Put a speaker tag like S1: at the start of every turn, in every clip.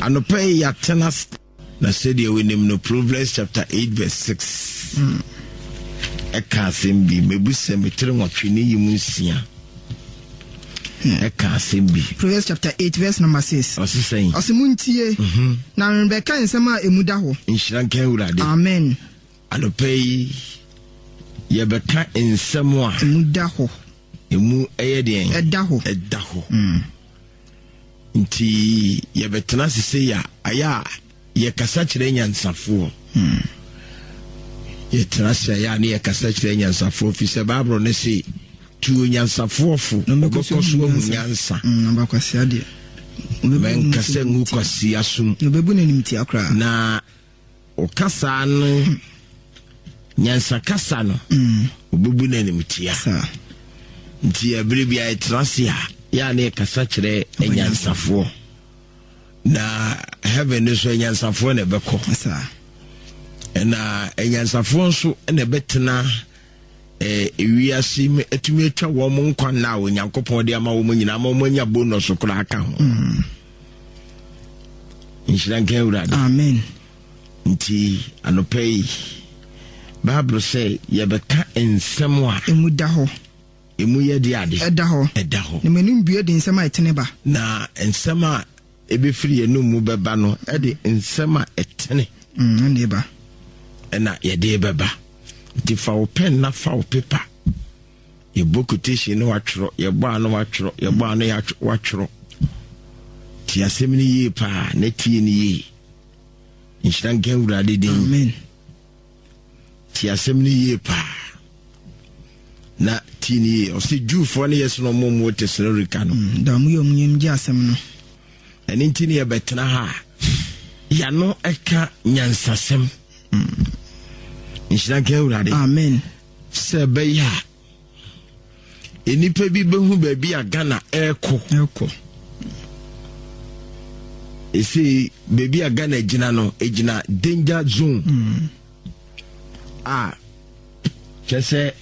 S1: Anɔpa yi yɛatena ase. Na sɛdeɛ wonim no Proverbs chapter 8 verse 6 hmm. ɛka asɛm bi mɛbu sɛ metere nwɔtwe ne yi mu nsia hmm. ɛka asɛm bi Proverbs chapter 8 verse
S2: number 6 ɔse sɛn ɔse montie mhm. na rebɛka nsɛm a ɛmu da hɔ nhyira nka awurade
S1: amen
S2: anɔpa yi
S1: yɛbɛka nsɛm a ɛmu da hɔ
S2: ɛmu
S1: ɛyɛ deɛn ɛda hɔ ɛda
S2: hɔ hmm. nti
S1: yɛbɛtena ase sei a ayɛ a yɛkasa kyerɛ nyansafoɔ hmm. yɛtena ase ayɛ a ne yɛkasa kyerɛ nyansafoɔ fi sɛ bible no se tuo nyansafoɔ fo ɔbɛkɔ so ahu nyansa hmm,
S2: mɛnkasɛ
S1: ngu kwasia som
S2: na
S1: Ɔka saa no nyansakasa no ɔbɛbu no animtia
S2: nti
S1: ɛberɛ bia ɛtena ase a yɛ a ne ɛkasa kyerɛ anyansafoɔ na heaven no so anyansafoɔ na ɛbɛkɔ
S2: ɛna
S1: anyansafoɔ nso na ɛbɛtena eh, wiase yi mu atumi atwa wɔn nkwa nna a onyankopɔn de ama wɔn nyinaa ma wɔn anya bonus koraa ka ho mm. nhyira nka awurade amen
S2: nti
S1: anɔpa yi bible sɛ yɛbɛka nsɛm a ɛmu da hɔ
S2: ɛmu yɛ de
S1: ade ɛda hɔ ɛda hɔ
S2: na m'anim bue de nsɛm a ɛtene ba na nsɛm
S1: a ɛbɛfiri yɛnom mu bɛba no ɛde nsɛm a ɛtene ɛne ba
S2: ɛna
S1: yɛde bɛba nti fa wo pɛn na fa wo pepa yɛbɔ quotation no watwerɛ yɛbɔ a no watwerɛ yɛbɔ a no watwerɛ ti asɛm no yie paa na tie no yie nhyira nka awurade din amen Tie asɛm no yie paa na tie no yie. Ɔsɛ Jewfoɔ no yɛ sɛ na ɔmo mu wɔ Tesalonikae no. Mm, da ɔmo yɛ ɔmo yam gye
S2: asɛm no. Ɛno nti
S1: ne yɛbɛtena ha a yɛano ɛka nyansasɛm. Mm. Nhyira nka Awurade. Amen.
S2: Sɛ ɛbɛyɛ
S1: a nnipa bi bɛhu baabi a ghana ɛrekɔ ɛrekɔ ɛsei baabi a ghana gyina no ɛgyina danger zone mm. a kyɛ sɛ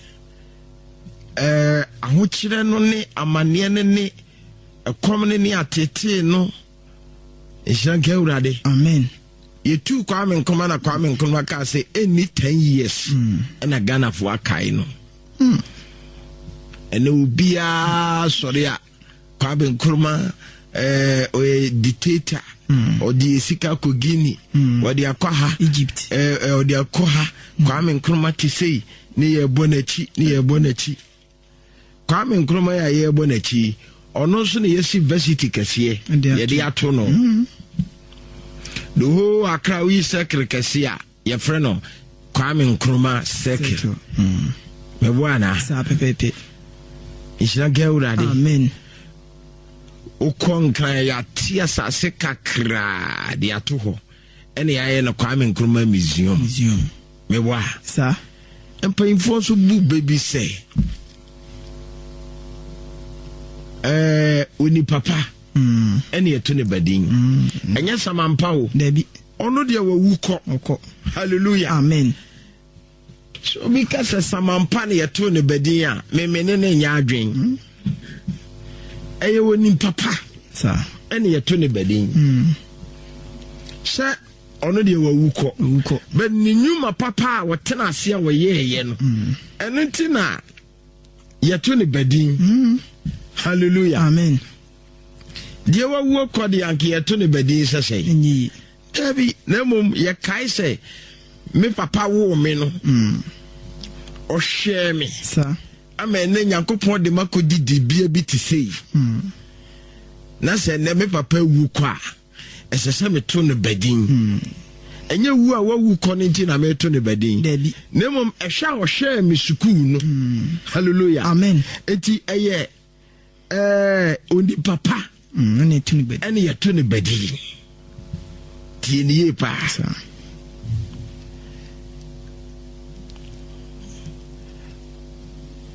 S1: ɛɛ ahokyerɛ no ne amanneɛ no ne ɛkɔm no ne atetee no nhyira nka awurade amen
S2: yɛtuu kwame
S1: nkrumah na kwame nkrumah kaa sɛ ɛnni 10 years hmm. ɛna ghanafoɔ akae no hmm. ɛnɛ obiaa sɔre a kwame nkrumah eh, ɔyɛ dictator hmm. ɔde sika kɔ guinea ɔde akɔ ha egypt eh, eh,
S2: ɔde akɔ
S1: ha kwame nkrumah te sei ne yɛbɔ n'akyi ne yɛbɔ n'akyi Kwame Nkrumah yɛ a yɛrebɔ n'akyi ɔno nso na yɛsi varsity kɛseɛ yɛde ato no mm-hmm. the whole Accra woyi circle kɛseɛ a yɛfrɛ no Kwame Nkrumah circle mɛboa mm. anaa saa pɛpɛpɛ
S2: nhyira
S1: nka awurade amen
S2: wokɔ
S1: nkran yɛate asase kakraa de ato hɔ Ɛna yɛayɛ no Kwame Nkrumah Museum. Museum. Mewa. Sa.
S2: Mpanyinfoɔ
S1: nso bu bɛ bi sɛ ɛɛ onipa pa. Mm. Ɛna yɛto ne badin. Mm. Ɛnyɛ samampa o. Dabi. Ɔno deɛ
S2: wawu
S1: kɔ. Ɔkɔ. Hallelujah. Amen. Sɛ obi ka sɛ samanpa na yɛtoo ne badin a, memene ne nyɛ adwen. Hmm? Ɛyɛ wɔ nipa pa ɛne
S2: yɛto ne
S1: badin. Hmm. Sɛ ɔno deɛ wawu kɔ but ne nnwuma papa a wɔtena ase a wɔyɛɛyɛ no mm. ɛno nti na yɛto ne badin mm. hallelujah amen deɛ wawuo kɔ deɛ anka yɛto ne badin sɛ sɛn Dabi,
S2: na
S1: mmom yɛkae sɛ me papa woo me no, mm. ɔhwɛɛ me ama
S2: ɛnɛ
S1: Nyankopɔn de makɔdi dibea bi te sei. Mm. Na sɛ ɛnɛ me papa wu kɔ a, ɛsɛ sɛ meto no badin. Mm. ɛnyɛ wu a wawu kɔ no nti na meto ne badin na mmom
S2: ɛhwɛ a
S1: ɔhwɛɛ me sukuu no hmm. halleluya amen enti
S2: ɛyɛ
S1: Ɛɛ, onipa pa ɛne yɛto ne badi.
S2: Ɛne yɛto ne badi.
S1: Tie ne yie paa.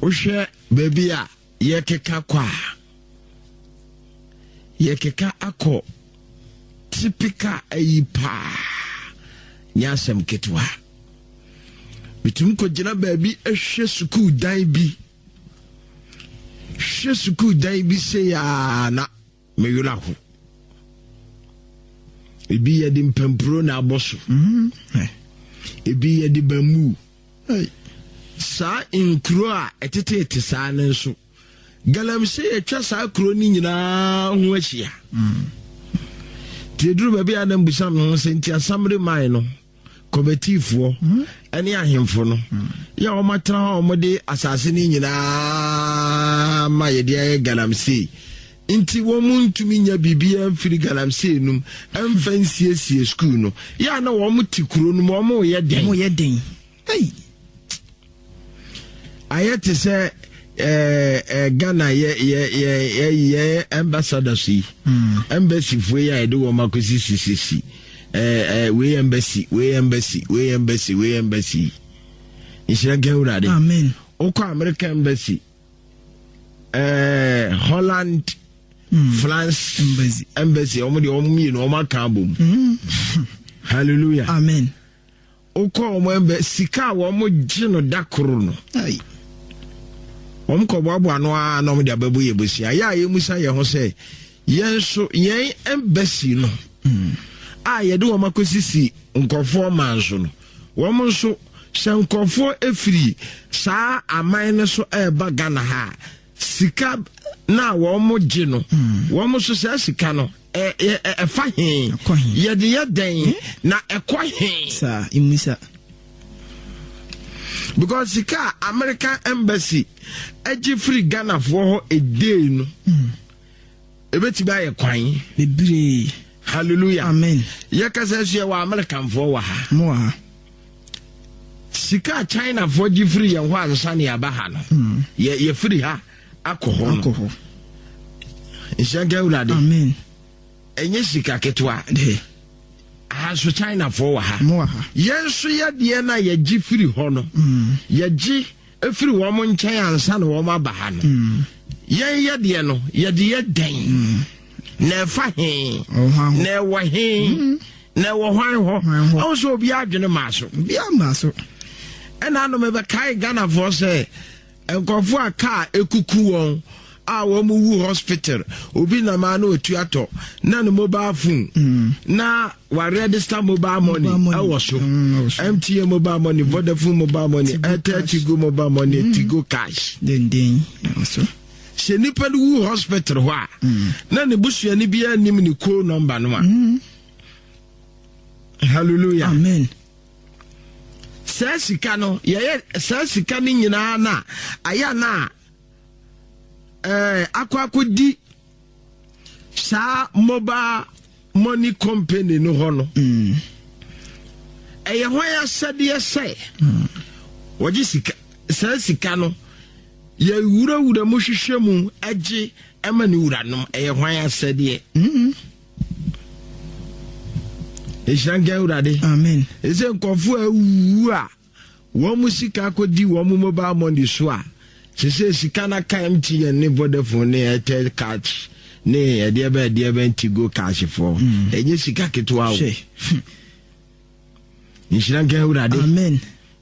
S1: Wohwɛ baabi a yɛkeka kɔ a yɛkeka akɔ typical ayi paa nyɛ asɛm ketewa. Metumi kɔgyina baabi ahwɛ sukuu dan bi. Hwɛ sukuu dan bi sei a na me werɛ aho. Ebi yɛde mpampuro na abɔ so. Mm-hmm. Ebi yɛde bamboo. Saa nkuro a ɛteteete saa no nso, galamsey atwa saa kuro no nyinaa ho ahyia. Mm. Tieduru baabi a na mbusam no ho sɛ nti asamre man no kɔmɛtiifoɔ mm-hmm. ne ahemfo no mm. yɛ wɔn atena hɔ a wɔde asase no nyinaa ma yɛde ayɛ galamsey nti wɔn mu ntumi nya biribiara mfiri galamsey no mu mfa nsiesie sukuu no yɛ a na wɔn te kuro no mu wɔn yɛ den wɔn yɛ den ɛyi ayɛ te sɛ eh, eh, ghana yɛ yɛ yɛ yɛ yɛ ambassadors yi hmm. embassy fo yi a yɛde wɔn akɔsi sisisi eh, eh, wei embassy wei embassy wei embassy wei embassy yi nhyira nka awurade wokɔ
S2: america
S1: embassy eh, holland mm. france embassy embassy wɔn deɛ wɔn mmienu wɔn aka abom mm. hallelujah amen.
S2: Wokɔ
S1: wɔn ɛmbɛ sika a wɔn gye no da koro no ai wɔn kɔboaboa no ara na wɔn de abɛbɔ yɛ bosia yɛ a yɛmusa yɛn ho sɛ yɛn nso yɛn ɛmbɛsi no hmm. a yɛde wɔn akɔsisi nkurɔfoɔ man so no wɔn nso sɛ nkurɔfoɔ efiri saa aman no so ɛreba Ghana ha sika na wɔn gye no hmm. wɔn nso saa sika no ɛfa he yɛde yɛ dɛn hmm? na ɛkɔ he saa mmisa because sika a american embassy agye firi ghanafoɔ hɔ ɛdei no hmm. Ebetumi ayɛ kwan. Bebree.
S2: Hallelujah.
S1: Amen.
S2: Yɛkasa nso yɛ
S1: wɔ Amerikanfoɔ wɔ ha. Mo wɔ ha.
S2: Sika
S1: a Chinafoɔ gye firi yɛn hɔ ansa ne yɛaba ha no. Hmm. Yɛ yɛfiri ha akɔ hɔ no. Akɔ hɔ. Nhyɛnka awurade. Amen.
S2: Ɛnyɛ
S1: sika ketewa. Dɛ.
S2: Aha nso
S1: Chinafoɔ wɔ ha. Mo wɔ ha. Yɛn nso
S2: yɛdeɛ
S1: no a yɛgye firi hɔ no. Hmm. Yɛgye. Mm. firi wɔn nkyɛn ansa na wɔn aba ha no yɛn yɛ deɛ no yɛde yɛ dɛn na ɛfa he na ɛwɔ he na ɛwɔ hwan hɔ ɔho sɛ obi adwene maa so
S2: ɛna
S1: anom ɛbɛkae ghanafoɔ sɛ nkurɔfoɔ a kaa ɛkuku wɔn a wɔn wu hospital obi nam a na otua tɔ na ne mobile phone mm. na wa register mobile money ɛwɔ so mtn mm, mobile money mm. vodafone mobile money airtel tigo mobile money tigo cash.
S2: sɛ nipa
S1: no wu hospital hɔ a na ne busuani bi anim ne koo nɔmba no a hallelujah amen
S2: saa
S1: sika no yɛyɛ saa sika no nyinaa na ayɛ na ɛɛ eh, akɔ akɔdi saa mobile money company no hɔ no mm. ɛyɛ hwan asɛdeɛ sɛ mm. wɔgye sika saa sika no yɛwurawura mu hwehwɛ mu agye ɛma ne wuranom ɛyɛ hwan asɛdeɛ ɛhyira nka awurade ɛsɛ
S2: nkɔfoɔ
S1: awuwu a wɔn mo sika akɔdi wɔn mo mobile money so a sesei sika na ka mtn ne vodafone ne airtel catch ne ɛdeɛ bɛ ɛdeɛ bɛ ntigo cash fɔ mm. ɛnyɛ sika ketewa o nhyira nka awurade amen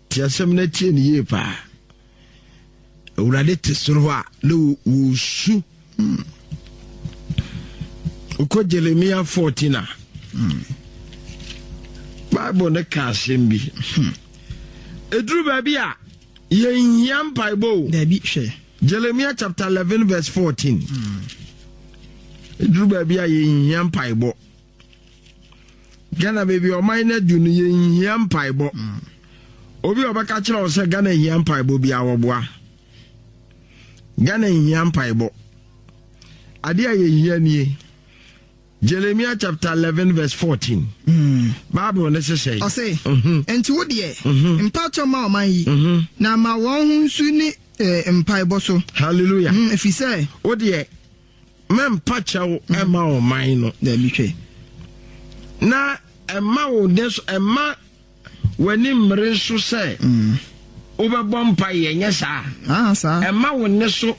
S2: tiasɛm no atie
S1: ne yie paa Awurade te soro hɔ a na wɔsu hmm. wokɔ Jeremia 14 a hmm. Bible no ka asɛm bi hmm. ɛduru baabi a yɛnhia mpaebɔ o daabi hwɛ
S2: Jeremia chapter 11
S1: verse 14 ɛduru baabi a yɛnhia mpaebɔ Ghana baabi a ɔman no adu no yɛnhia mpaebɔ mm. obi a ɔbɛka kyerɛ wo sɛ Ghana nhia mpaebɔ bi a wɔboa Ghana nhia mpaebɔ adeɛ a yɛhia nie Jeremiah chapter eleven verse fourteen. Mm. Bible ne sesɛ. Ɔse. Mhm.
S2: Nti wo deɛ. Mhm. Mpatsɔ ma ɔman yi. Mhm. Na ma wɔn ho nsu ne eh, mpaebɔ so. Hallelujah. Ɛfiri
S1: sɛ.
S2: Wo deɛ
S1: mɛmpa kyɛw ɛma mm. ɔman no daabi twɛ
S2: na
S1: ɛma wo de so ɛma w'ani mmere so sɛ mm. wobɛbɔ mpa yɛ nyɛ saa ah, ɛma
S2: wo ne so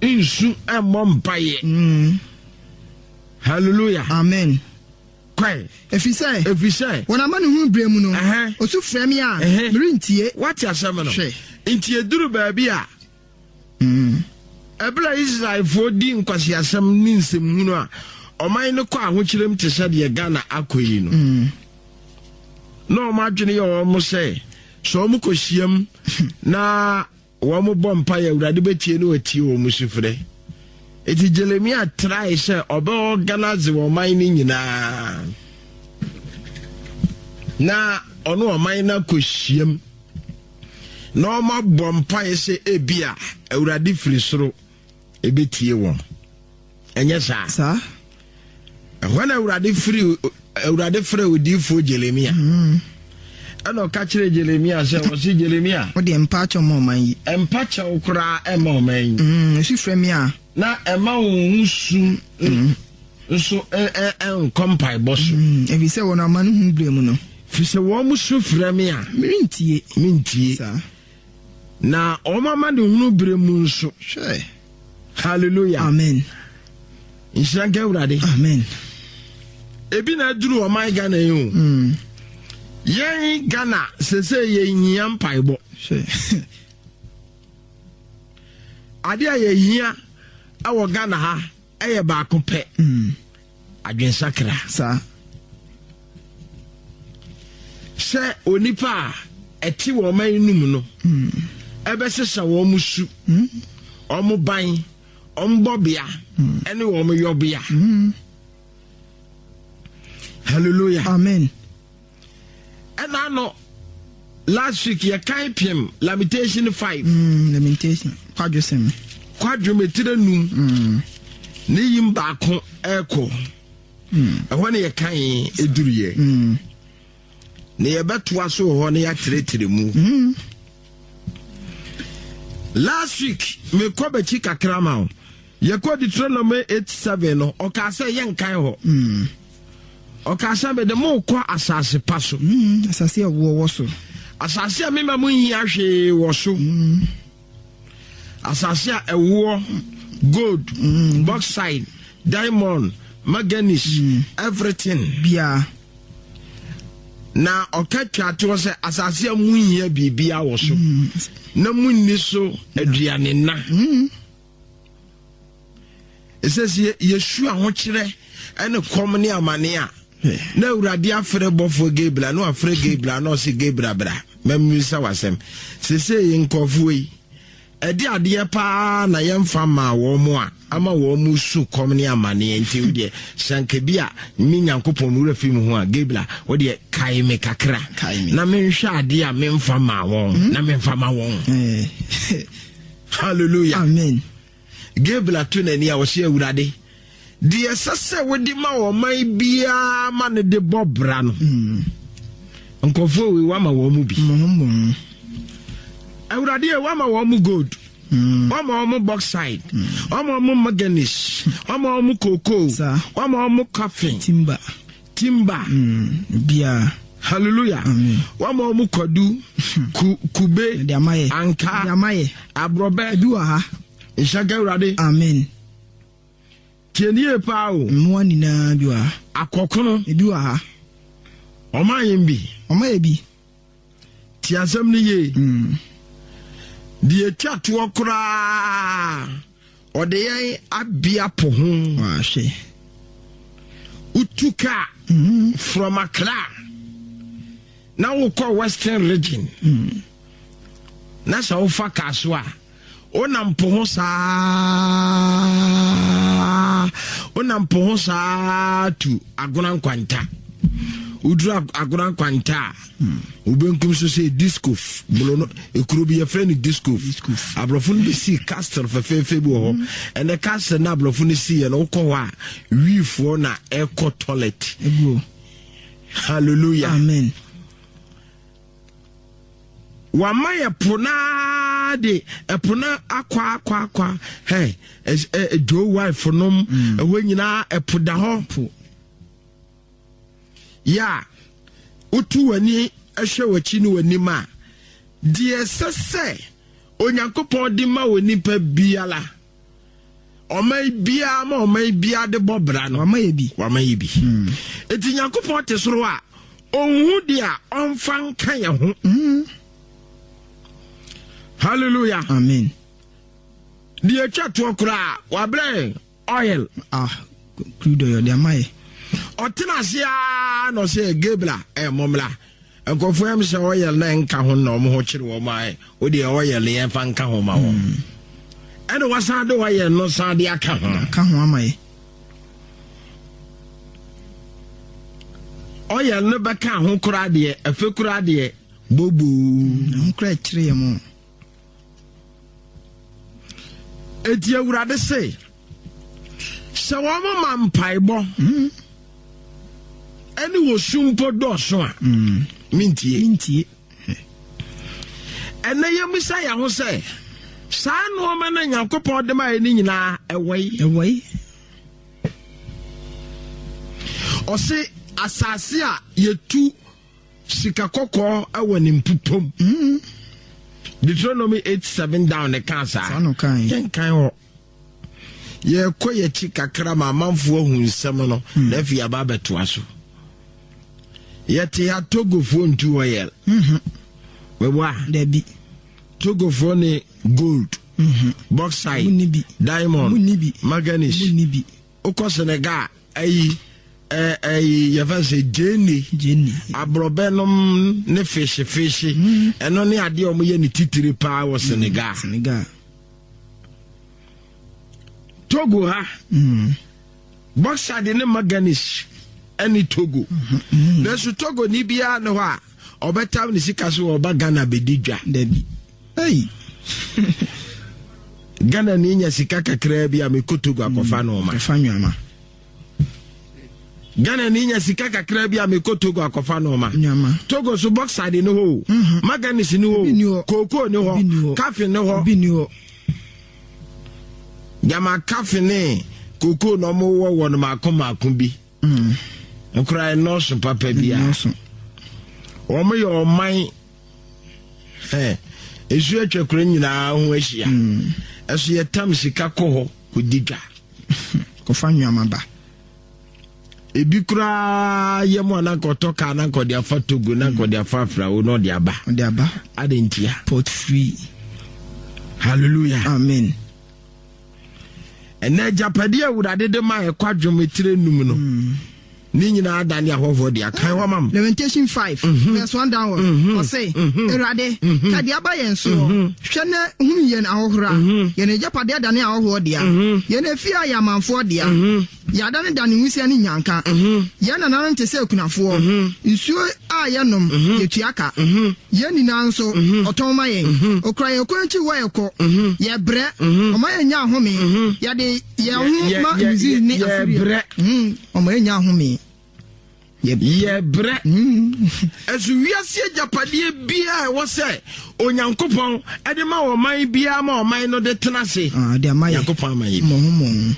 S1: nsu ɛmmɔ mpa yɛ mm. hallelujah amen
S2: kwae.
S1: efisɛ
S2: efisɛ wɔn amanehunu bere mu no osu frɛ mi a merentie. wate asɛm no hwɛ
S1: nti eduru baabi a. Bere a Israelfo di nkwaseasɛm ne nsɛmhunu a ɔman no kɔ ahokyerem te sɛ deɛ Ghana akɔ yi no, na wɔn adwene yɛ wɔn sɛ sɛ wɔn kɔ hyiam na wɔn bɔ mpa yɛ awurade bɛtie ne wɔatie wɔn sufrɛ. Eti Jeremia trae sɛ ɔbɛ organize wɔn man no nyinaa na ɔno ɔman no akɔ hyiam. na wɔabɔ mpaeɛ sɛ ebi a awurade firi soro ɛbɛtie wɔn ɛnyɛ saa saa ɛhɔ na awurade firi awurade frɛ odiifoɔ jeremia mm. ɛna ɔka kyerɛ jeremia sɛ wɔse jeremia wode mpa kyɛw ma
S2: ɔman yi mpa kyɛw koraa
S1: ɛma ɔman yi mm, ɛsu frɛ me a
S2: na ɛma wo
S1: ho su mm. nso nkɔ mpaebɔ so. Mm, ɛfiri sɛ wɔn amanehunu
S2: berɛ mu no. Firi sɛ wɔn mo su
S1: frɛ me a. Merentie. Mentie. Saa. Na wɔn amanehunu berɛ mu nso. Hwɛ. Hallelujah. Amen.
S2: Nhyira
S1: nka Awurade. Amen. Ebi na aduru ɔman Ghana yi o. Mm. Yɛn Ghana sese yɛhia mpaebɔ. Hwɛ. Adeɛ a yɛhia wɔ Ghana ha. Ɛyɛ baako pɛ. Mm. Adwensakra. Saa. Sɛ onipa a ɛte wɔn man no mu no ɛbɛsesa wɔn mu su, wɔn ban, wɔn bɔbea, ɛne wɔn yɔbea. Hallelujah. Amen. ɛna ano last week yɛ kan piem lamentation five. Mm, lamentation
S2: kwadwo sɛm.
S1: kwadwo metire num. Mm. ne yim baako ɛkɔ. Mm. ɛhɔ ne yɛ kan eduru yɛ. Mm. na yɛbɛtoa so wɔ hɔ na yɛatrɛtrɛ mu. Mm. last week mekɔ bɛkyi kakra ma o yɛkɔ deuteronomy 8 7 no ɔkaa sɛ yɛnkan hɔ mm. Ɔkaa sɛ, Mede mo rekɔ asase pa so. Mm, asase a ɛwoɔ wɔ
S2: so. Asase a mema
S1: mo nhia hwee wɔ so. Mm. Asase a ɛwoɔ, gold, mm. bauxite, diamond, manganese, mm. everything. Biara. Na ɔka twatoɔ sɛ asase a mu nhia biribiara wɔ so. Mm. Na mu nni so aduane na. Mm. ɛsɛ sɛ yɛsu ahokyerɛ ne kɔm ne amane a na awurade afrɛ bɔfoɔ gabra na wafrɛ gabra na ɔse gabra bra mammisa wasɛm sesei nkɔfoɔ yi ɛde adeɛ paa na yɛmfa maa wɔn mo a ama wɔn mo su kɔm ne amaneɛ nti wodeɛ sɛnka bi a me nyankopɔn me wura fi mu ho a gabra wodeɛ kae me kakra na menhwɛ adeɛ a memfa maa wɔn na memfa ma wɔn eh. Hallelujah. Amen.
S2: Gabriel
S1: to n'ani a ɔhyɛ awurade deɛ ɛsɛ sɛ wode ma ɔman biara ma no de bɔ bra no mm. nkurɔfoɔ wei wama wɔn mu bi awurade ɛ wama wɔn mu gold mm. wama wɔn mu boxside mm. wama wɔn mu manganese wama wɔn mu cocoa wama wɔn mu coffin timber
S2: Timba. Mm, biara.
S1: Hallelujah. Amen. Wọ́n mọ̀ ọmú kwadu, ku, kube, anka,
S2: aborɔbɛ. Ebi wɔ
S1: ha.
S2: Nhyɛ ka Awurade.
S1: Amen. Tie ni yie paa o. Mmoa nyinaa bi wɔ
S2: ha. Akɔkono. Ebi
S1: wɔ ha.
S2: Ɔma
S1: yɛn bi. Ɔma yɛ bi. Ti asɛm no yie. Hmm. Deɛ ɛtwa toɔ koraa ɔde yɛn abea po ho. Wahwɛ.
S2: Wotu
S1: kaa hmm. from Accra na wokɔ Western region hmm. na sɛ wofa kaa so a Wonam po ho saa wonam po ho saa tu agona nkwanta woduru agona nkwanta a hmm. wobɛnkum so sɛ discof bolo no ɛkuro bi yɛfrɛ no discof aborɔfo no bɛsii castle fɛfɛɛfɛ bi wɔ hɔ hmm. ɛnɛ castle no aborɔfo no siiɛ no wokɔ hɔ a wiifoɔ na ɛkɔ toilet hallelujah amen wama yɛ po no ara de ɛpo no akɔ akɔ akɔ hɛ ɛdwo wife nom mm. ɛhɔ nyinaa ɛpo da hɔ yɛ a wotu w'ani hwɛ w'akyi ne w'anim a deɛ ɛsɛ sɛ onyankopɔn de ma wɔ nipa biara ɔman biara ma ɔman biara de bɔ bra no wama yɛ bi wama yɛ bi
S2: hmm.
S1: eti nyankopɔn te soro a ɔnhu de a ɔnfa nka yɛ ho hmm. hallelujah amen deɛ atwa toɔ koraa
S2: wabrɛ
S1: oil ah
S2: crude oil deɛ ama yɛ ɔtena ase
S1: a na ɔsɛ gabriel ɛmmɔmmra eh, Nkorɔfoɔ ɛm sɛ oil na ɛnka ho na wɔn ho kyere wɔn a wo deɛ oil yɛn fa nka ho ma wɔn hmm. ɛna wasan de oil no san de aka ho aka ho ama yɛ oil no bɛka ho koraa deɛ ɛfɛ koraa deɛ bobo hmm, ho koraa
S2: ɛkyere yɛ mo
S1: Eti Awurade se, sɛ wɔn ma mpaebɔ ɛne hmm. wɔsu mpo dɔɔso a hmm. mentie. Ɛnɛ yɛmmisa yɛn ho sɛ saa nnoɔma no Nyankopɔn de ma yɛ no nyinaa ɛwɔ yi. Ɛwɔ yi. Ɔse asase a yɛtu Sika kɔkɔɔ wɔ ne mpupom. Mm. Deuteronomy eight seven down ne kaa saa. Saa no kan. Yɛn kan hɔ. Yɛkɔ yɛkyi kakra ma amanfo ahu nsɛm no hmm. na afei aba abɛtoa so. Yɛte ha Togofoɔ ntu hɔ yɛl. Mhm. Bɛbɔ a. Dabi.
S2: Togofoɔ
S1: ne gold. Mhm. Bauxite. Diamond. Manganese. wokɔ senegal ayi ɛyi yɛfɛ sɛ gyeni aborɔbɛ nom ne fehye fehye hmm. ɛno ne adeɛ ɔmo yɛ ne titiri paa wɔ hmm. senegal senegal togo ha hmm. boxer de ne maganish ɛne togo nanso togo ni biara ne hɔ a ɔbɛtam ne sika so wɔ ɔba ghana bɛdi dwa dabi
S2: Hey.
S1: Ghana ni nya sika kakraa bi a me kotogo akɔfa no ma. Fa nnuama.
S2: Ghana
S1: ni nya sika kakraa bi a me kotogo akɔfa no ma. Nnuama. Togo so boxside ne hɔ. Mhm. Maganis ne hɔ. Koko ne hɔ. Kafe ne hɔ. Bi ne hɔ. Jama kafe ne koko na ɔmo wɔ wɔn mako mako bi. Mhm. Nkora ɛnɔɔso papa bi a. Ɛnɔɔso. Wɔn yɛ ɔman. ɛsu atwa kuro nyinaa ho ahyia hmm. ɛso yɛtam sika kɔ hɔ kɔdi dwa
S2: kɔfa nnwama ba
S1: ebi koraa yɛ mu ananka ɔtɔ kaa ananka ɔde afa togo nanka ɔde afa afrawo na ɔde aba ɔde aba ade ntia port free hallelujah amen ɛnna agyapadeɛ awurade de ma ɛkɔ adwom etire num no. Mm. Ne nyinaa da ne ahɔhoɔ de akan wama m. Lamentation five mhm.
S2: verse one downward. Mhm. Ɔse, mhm. Awurade, ka deɛ aba yɛn soɔ. Hwɛ na hunu yɛn ahohora. Yɛn agyapadeɛ da ne ahɔhoɔ dea. Yɛn afie a yɛ amanfoɔ dea. Yɛada ne da ne nwisiɛ ne nnyanka. Yɛn nananom te sɛ akunafoɔ. Nsuo a yɛnom, yɛtua ka. Yɛn nyinaa nso, ɔtɔn ma yɛn. Ɔkura yɛn kwan akyi wɔ yɛkɔ. Yɛbrɛ, ɔma yɛnya ahome. Yɛde yɛn ho ma Misiri ne Asiria. Ɔma yɛnya ahome.
S1: Yɛbrɛ. Ɛso wiase agyapadeɛ biara a ɛwɔ sɛ Onyankopɔn de ma ɔman biara ma ɔman no de tena ase. Ah, Onyankopɔn
S2: ama yɛ bi.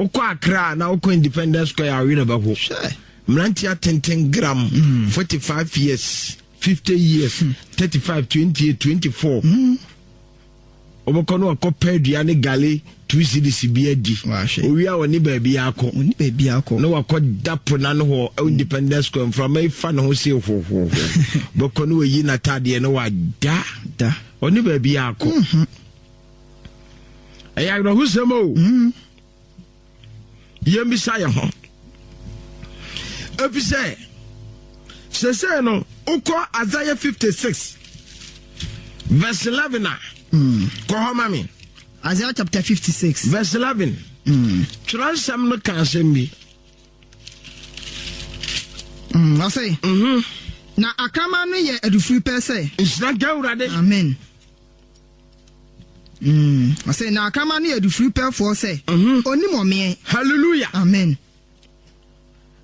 S1: Wokɔ Accra na wokɔ Independence Square a wowerɛ bɛho. Mmerante atenten gram mm. forty five years fifty years hmm. thirty five twenty eight twenty four. Hmm. wɔkɔ no akɔpɛ adua ne gale two cedis bi adi owie a wɔne baabi akɔ na wakɔ da po no ano hɔ ɛwɔ independence square mframa yi fa ne ho se hohoho bɛkɔ ne wayi n'atadeɛ na wada ɔne baabi akɔ mhm. ɛyɛ awerɛhosɛm o mm. yɛmmisa yɛn ho efisɛ sese no wokɔ Isaiah 56 verse 11 a hmm. kɔ hɔ ma me Isaiah chapter 56
S2: verse 11 hmm.
S1: twerɛ nsɛm no ka asɛm bi
S2: hmm, ɔsɛ mhm. na akraman no yɛ adufiri pɛ sɛ nhyira nka awurade
S1: amen
S2: Mm. Ɔsɛ na akrama ne adufiri pɛfoɔ sɛ mhm. onim ɔmeɛ. Hallelujah. Amen.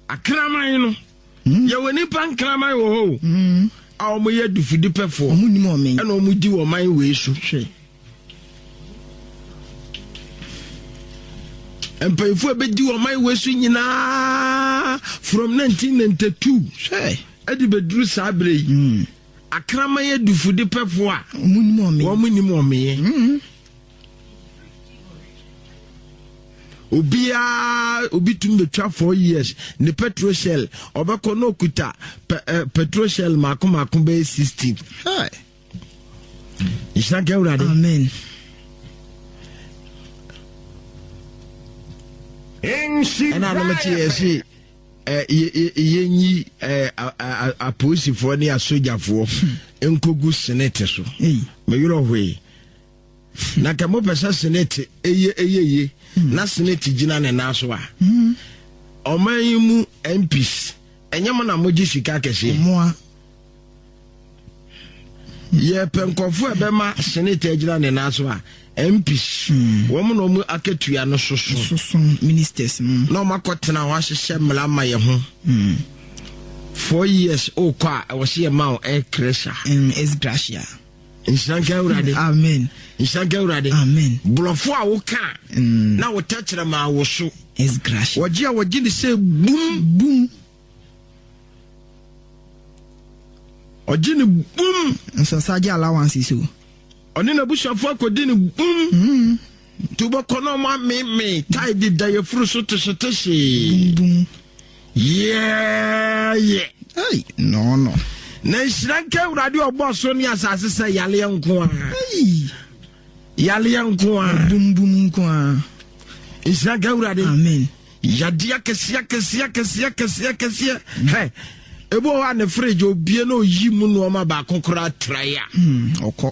S2: Akraman
S1: no. Mm. Yɛwɔ nipa nkraman wɔ hɔ o. Mm. A wɔn yɛ adufiri pɛfoɔ. Wɔn nim ɔmeɛ. Ɛna wɔn
S2: di wɔn man wei
S1: so. Hwɛ. mpanyinfo a bɛdi wɔn man wei so nyinaa from 1992 ɛde bɛduru saa berɛ yi. Mm. Akraman adufudepɛfo a wɔnnim ɔmeyɛ. obiara obi tumi betwa four years ne petrol shell ɔbɛkɔ na okuta eh, petrol shell mako mako bɛyɛ sixteen. nhyira nka awurade. amen. ɛna anam te yɛ se yɛnyi apolisifoɔ ne asogyafoɔ nkɔgu senate so meyerɛ hoe na ka mopɛ sɛ senate ɛyɛ ɛyɛ ye hmm. na senate gyina ne nan so a hmm. ɔman yi mu mps ɛnyɛ mo na mogye sika kɛseɛ yɛpɛ nkɔfo a ɛbɛma senate agyina ne nan so a mps hmm. wɔn na wɔn akatua no soso soso ministers no
S2: na wɔn akɔtena
S1: hɔ ahyehyɛ mmara ma yɛ ho hmm. four years okɔ a ɛwɔ se yɛ ma wɔn air crasher ɛs gracia
S2: nhyɛnka
S1: awurade amen nhyɛnka
S2: awurade
S1: amen borɔfo a
S2: woka
S1: hmm. na wotɛkyerɛ ma awoso ɛs gracia wɔgye a
S2: wɔgye ne sɛ
S1: bum bum ɔgye ne bum. nso ɔsa gye
S2: allowances o. ɔne n'abusuafo
S1: akɔdi ne bum. Mm. nti wobɛkɔ na ɔmo ameme tae de da yɛfuru so tehyetehye. Bum. yɛɛyɛ. Hey, no
S2: no. na
S1: nhyira nka awurade ɔbɔ ɔso ne asase sɛ yaleɛ nko a yaleɛ nko
S2: a bumbum nko a nhyira
S1: nka awurade amen Yadeɛ
S2: akɛseɛ
S1: akɛseɛ akɛseɛ akɛseɛ akɛseɛ hɛ ebi wɔ hɔ a ne fridge obie na oyi mu nneɛma baako koraa trae a. Hmm, ɔkɔ.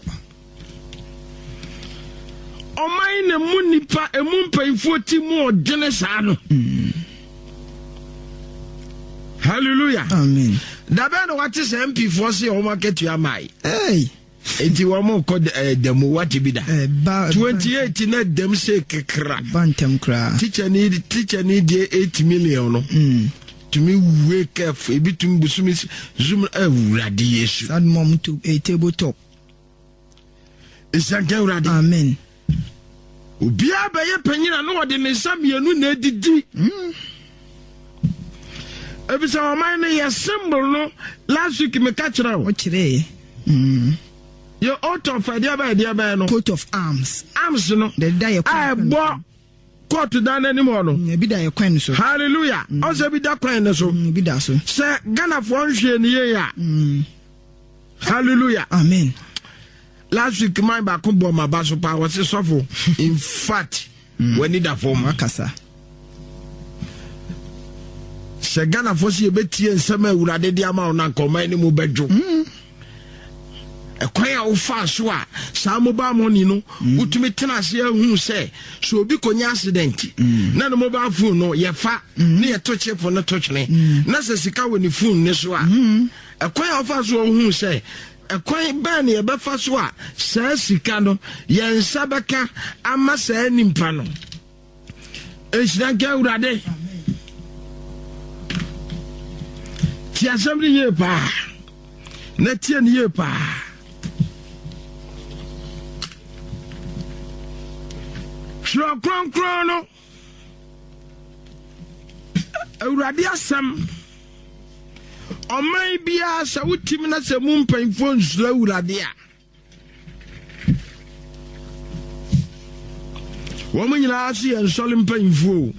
S1: ɔman na mu nipa emu mpanyinfoɔ ti mu ɔdene saa no. Hmm. hallelujah. amen.
S2: dabɛn na wate
S1: sɛ mp foɔ se wɔn akatua maae. Hey. Enti wɔkɔ da mu, woate bi da? Ɛba. Twenty eight na dɛm se kekra. Ɛba ntɛm koraa.
S2: Teacher ni teacher
S1: ni deɛ eight million no. Mm. Tumi wake up ebi tumi busumi zoom awurade eh, yesu. Sadmom to a eh,
S2: table top. Nsanka
S1: awurade. Amen. Obiara bɛyɛ panyin a na ɔde ne nsa mmienu na edidi. Hmm. Ebisa ɔman no yɛ symbol no last week meka kyerɛ o. Ɔkyerɛɛ. Hmm. Yɛ oath of ɛdeɛ bɛyɛ ɛdeɛ bɛyɛ no. Coat of arms.
S2: Arms no. Dɛdɛ
S1: yɛ kɔ. A
S2: ɛbɔ
S1: court dan n'anim hɔ no. Mm, ebi da yɛ kwan no so.
S2: hallelujah mm. ɔsɛ bi
S1: da kwan no so. Mm, ebi da so. sɛ
S2: ghanafoɔ
S1: nhwɛ ni yie a. hallelujah. amen.
S2: last
S1: week man baako bɔ ɔmo aba so paa wɔsi sɔfo in fact w'ani da fam. wakasa. sɛ ghanafoɔ si ebetie nsɛm a awurade de ama wɔn na nkɔmɔ anim bɛdwo. Ɛkwan a wofaa so a saa mobile money no mm. wotumi tena ase ahu sɛ sɛ obi kɔnya accident mm. na ne mobile phone no yɛfa mm. ne yɛto chip no to twene na sɛ sika wɔ ne phone ne so a ɛkwan a wofaa so ɔhu sɛ ɛkwan bɛn ne yɛbɛfa so a saa sika no yɛn nsa bɛka ama saa nipa no nhyira nka awurade tie asɛm no yie paa na tie no yie paa twerɛ kronkron no awurade asɛm ɔman biara sɛ wotim na sɛ mu mpanyimfoɔ nsuro awurade a wɔn nyinaa ase yɛ nsɔre mpanyinfoɔ o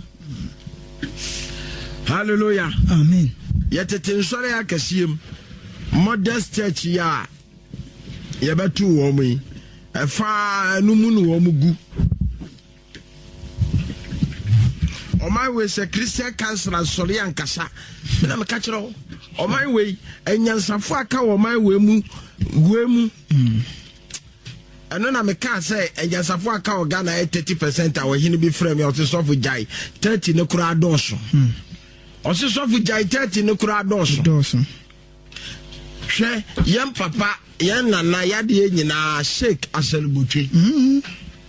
S1: hallelujah amen
S2: yɛtete nsɔre
S1: akɛseɛ mu modest church yi a yɛbɛto wɔn yi ɛfa ɛno mu ne wɔn gu ɔman wei sɛ christian council asɔre ankasa me na meka kyerɛ wo ɔman wei anyansafo aka wɔ ɔman wei mu wei mu ɛno na mekaa sɛ anyansafo aka wɔ ghana yɛ 30 percent a ɔhene bi frɛ me ɔse sɔfo gyae 30 no koraa dɔɔso ɔse sɔfo gyae 30 no koraa dɔɔso hwɛ yɛn papa yɛn nana yadeɛ nyinaa sheik asalubotwe mm-hmm.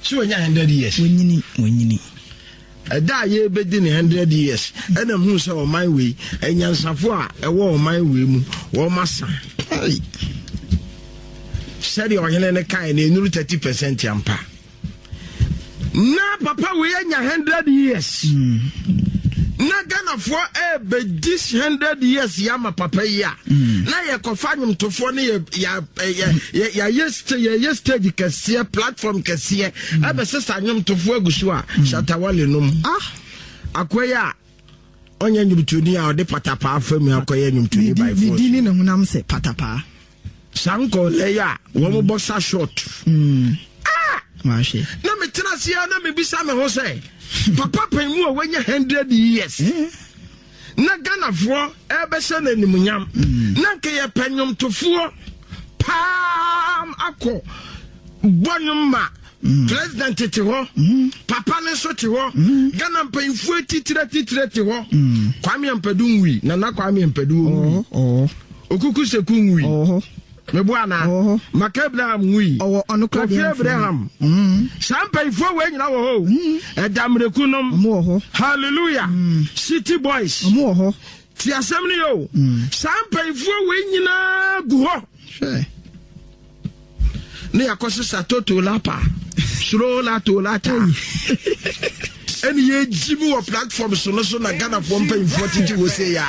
S1: sɛ wɔnya hundred years wɔnyini wɔnyini
S2: ɛda
S1: a yɛbɛdi ne hundred years ɛna mu sɛ ɔman wei anyansafo a ɛwɔ ɔman wei mu wɔn asa sɛdeɛ ɔhene no kae na enuru thirty percent ampa. na papa wei anya hundred years hmm. na ghanafoɔ ɛbɛdi eh, hundred years yɛ ama papa yi a hmm. na yɛkɔfa nwomtofoɔ no yɛyɛ eh, stage kɛseɛ platform kɛseɛ ɛbɛsesa hmm. nwomtofoɔ agu so a shatawale nom ah. akoa yi a ɔnyɛ nwomtoni a ɔde patapaa fa mu akɔyɛ nwomtoni by force ne dini na honam sɛ
S2: patapaa
S1: saa nkɔlɛ
S2: yi a
S1: wɔn bɔ sa short mm.
S2: ah! na metena
S1: ase a na mebisa me ho sɛ papa pɛn mu a wanya hundred years eh? na ghanafoɔ ɛbɛhyɛ no animuonyam mm. na nka yɛpɛ nnwomtofoɔ paam akɔ bɔ nnwom ma Mm. president te hɔ mm-hmm. papa no nso te hɔ mm-hmm. ghana mpanyinfoɔ atitire atitire te hɔ mm. kwame ampadu nwui nana kwame ampadu nwui oh, oh. okuku seku nwui oh, mebo ana maka abraham nwui kofi abraham mm-hmm. saa mpanyinfoɔ wɔ nyina wɔ hɔ ɛda mmireku nom hallelujah mm. city boys ti asɛm no yɛ o saa mpanyinfoɔ wɔ nyinaa gu hɔ. ne yɛakɔ sesa toto lapa soro lato lata ɛne yɛgyi mu wɔ platform so no so na ghanafoɔ mpanyimfoɔ tete wɔ sei a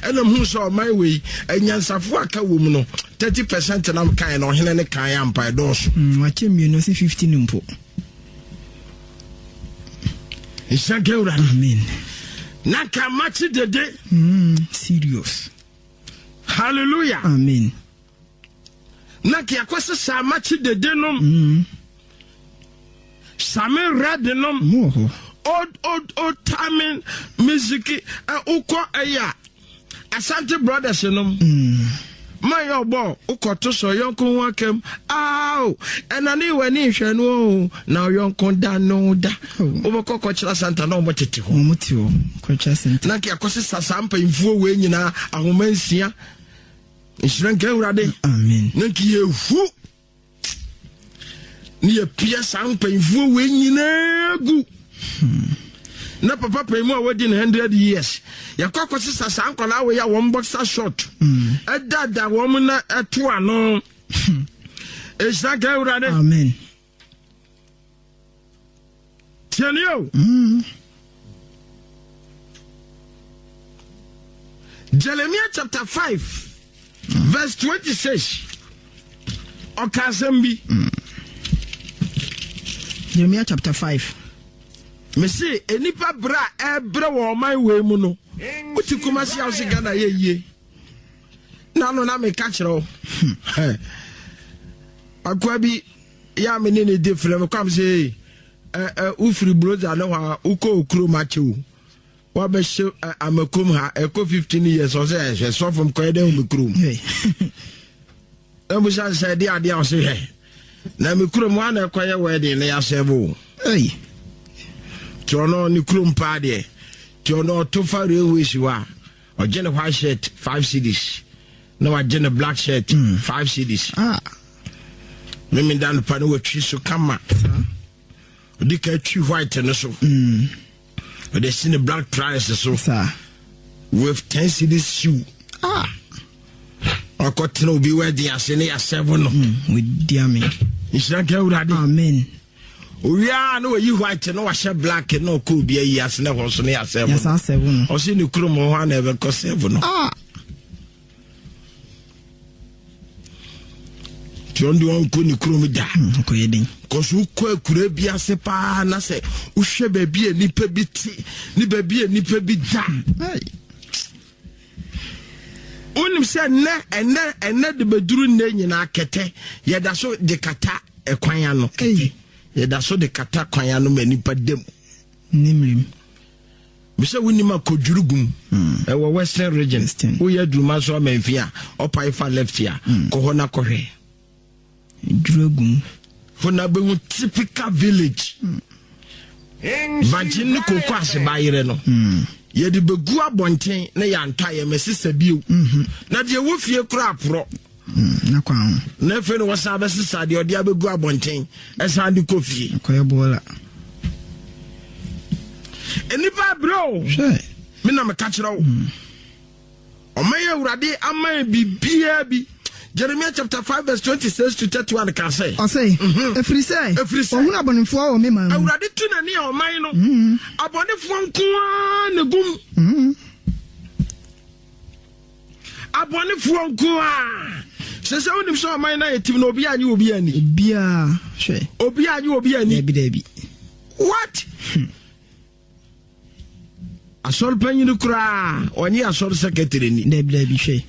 S1: ɛnam hu sɛ ɔman wei anyansafoɔ a ka wɔ mu no 30 percent nam kae na ɔhene ne kae ampa ɛdɔɔso mm, wakyɛ mmienu ɔse 50
S2: no mpo
S1: ɛhyɛ nka awurade amen
S2: na
S1: ka makye dede mm, serious hallelujah amen na ke akɔsɛ saa makye dede nom same rɛde nom old old old time music wokɔ ɛyɛ a asante brothers nom ma yɛ ɔbɔ wokɔto sɛ ɔyɔnko ho akam ao ɛna ne wɔ ani nhwɛ no o na ɔyɔnko da no da wobɛkɔ kɔkyerɛ asanta na ɔmo tete hɔ
S2: na ke akɔsɛ saa saa
S1: mpanyinfoɔ wei nyinaa ahoma nsia nhyira nka awurade na nka
S2: yɛhu
S1: ne yɛpia saa mpanyimfoɔ wei nyinaa gu hmm. na papa pɛn mu a wadi no hundred years yɛkɔ akɔsesa saa nkwadaa wei a wɔn boxer short hmm. ɛdada wɔn na ɛto ano hmm. nhyira nka awurade tiɛ ni o. Hmm. Jeremiah chapter five verse twenty six ɔka asɛm bi. Hmm.
S2: Jeremiah chapter five.
S1: Mese nnipa berɛ a ɛbrɛ wɔ ɔman wei mu no wote kumasi a wose Ghana yɛ yie. na no na meka kyerɛ wo akoa bi yɛ a me ne ne di frɛ me kwam sɛ wofiri brosa ne hɔ a wokɔ okurom akyɛ o wabɛhyɛ amakom ha ɛkɔ 15 years ɔsɛ ɛhwɛ sɔfom kɔɛ dɛ me kurom na busa sɛ ɛde adeɛ a ɔse hwɛ na me kurom hɔ a na ɛkɔyɛ wɛden na yɛasɛ bo nti ɔno ne kurom paa deɛ nti ɔno ɔto fa railways hɔ a ɔgye ne white shirt five cedis na wagye ne black shirt hmm. five cedis ah. meme da nopa ne watwi so kama ɔdi ka twi white no so hmm. ɔde si ne black trials so with ten cedis shoe ah. ɔkɔtena obi wadi ase ne yɛasɛvo no hmm.
S2: nhyira nka awurade
S1: amen
S2: owie
S1: a na wayi white na wahyɛ black na ɔkɔ obi ayi ase na ɛhɔ so ne yɛasɛvo no ɔse
S2: ne kurom hɔ
S1: a na ɛbɛkɔ sɛvo no ah! nti ɔno deɛ ɔnkɔ ne kurom da hmm,
S2: kɔso wokɔ akura
S1: bi ase paa na sɛ wohwɛ baabi a nnipa bi te ne baabi a nnipa bi da Wonim sɛ nnɛ, ɛnnɛ, ɛnnɛ de bɛduru nnɛ nyinaa kɛtɛ yɛda so de kata kwan ano. Kɛtɛ yɛda so de kata kwan ano ma nnipa da mu. Nimrim. Mesɛ wonim a kɔdwuru gum hmm. ɛwɔ western region woyɛ aduruma so amanfi a ɔpae fa left a hmm. kɔ hɔ na kɔhwɛ
S2: Duragum. Hɔ na
S1: bɛhu typical village. Vagye ne koko ase ba yerɛ no. Hmm. Yɛde bɛgu abɔnten na yɛantɔ ayɛ mɛsesa bio. Hmm. Na deɛ wɔ fie kora aporɔ. Hmm. Na kwan
S2: ho. Na afei na wɔsan
S1: bɛsesa deɛ ɔde abɛgu abɔnten ɛsan de kɔ fie. Kɔyɛ bɔɔla. Nnipa abrɛ o. Hwɛ. Me na meka kyerɛ wo. Ɔman Awurade aman biribiara bi. Jeremia chapter five verse twenty six to thirty one ka sɛ. Ɔse, Efiri
S2: sɛ. Efiri sɛ. Wɔhunu abɔnefoɔ wɔ me man mu. Awurade tu n'ani a ɔman
S1: no. Abɔnefoɔ nko ara na egu mu. Abɔnefoɔ nko ara. Sɛ sɛ wonim sɛ ɔman no ayɛ tim na obi anyi obi ani. Obiara
S2: hwɛ. Obi anyi obi ani.
S1: Dabi dabi. What? Hmm. asɔre panyin koraa ɔnye asɔre secretary ni. dabi dabi hwɛ.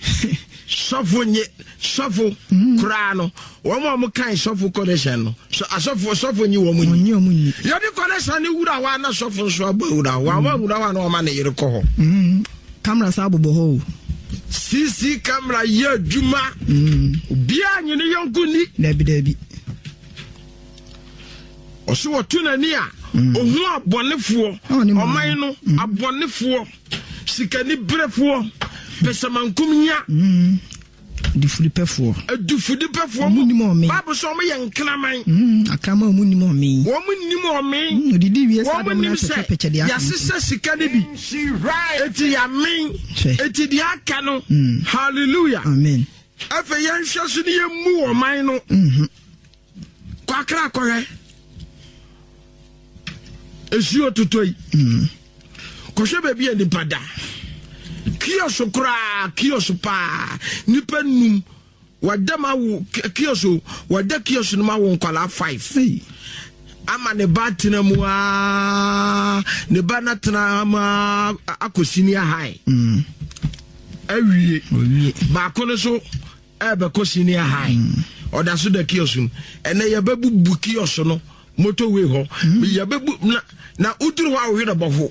S2: sɔfo nye
S1: sɔfo mhm. koraa no wɔn a wɔn kan sɔfo connection no so asɔfo sɔfo nye wɔn nyi. wɔn nyi. yɛde connection ne wura hɔ ana sɔfo nso abɔ wura hɔ wɔn a wura hɔ ana wɔn a ne yere kɔ hɔ. Mhm. kamara
S2: saa bɔbɔ hɔ o. sisi
S1: kamara yɛ adwuma. Mhm. obiara nye ne yɔnko ni. dabi dabi. ɔse wɔto n'ani a mm. ɔhu abɔnefoɔ ɔman no mm. abɔnefoɔ sikani berɛfoɔ pɛsɛmankom hia mm. difudipɛfoɔ
S2: adufudipɛfoɔ mu nim
S1: ɔme baabu sɛ ɔmo yɛ nkraman akrama ɔmo
S2: nim ɔme ɔmo nim ɔme
S1: odidi wie saa dɛm
S2: na pɛkyɛpɛkyɛ deɛ yasesɛ sika ne bi
S1: eti yamen eti deɛ aka no hallelujah amen
S2: afei yɛnhwɛ
S1: so ne yɛmmu ɔman no mhm. Kwakra kɔhwɛ esuo totɔ yi. Mm. Kɔhwɛ baabi a nipa da. Kios koraa kios paa nipa num wɔda ma wo kios o wɔda kios no ma wo nkwadaa five. Hey. ama ne ba tena mu aa ne ba na tena mu aa akɔ senior high mm. awie baako no so Ɛrebɛkɔ senior high. Mm. Ɔda so da kiosk no. Ɛnɛ yɛbɛbubu kiosk no motorway hɔ. Mm. Yɛbɛbu na na woduru hɔ a wohwɛ na bɔho.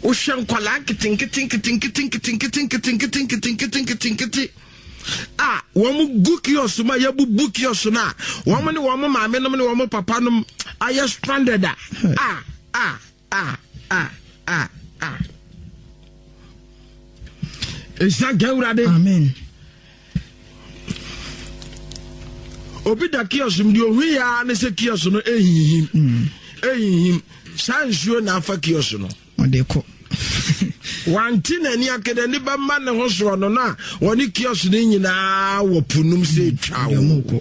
S1: Wohwɛ nkwadaa nketenketenketenketenketenketenketenketenketenketenkete a wɔn gu kiosk mu a yɛbubu kiosk no a wɔn ne wɔn maame nom ne wɔn papa nom ayɛ stranded a a a. Ah ah ah ah. Nhyira nka Awurade. Amen. Obi da kiosk mu deɛ ohui ya ne sɛ kiosk no ehinhim hmm. ehinhim saa nsuo na afa kiosk no. Ɔde kɔ. wanti n'ani akeda ne bɛma ne ho soɔ no na wɔne kiosk no nyinaa wɔ po nom sɛ twa wo.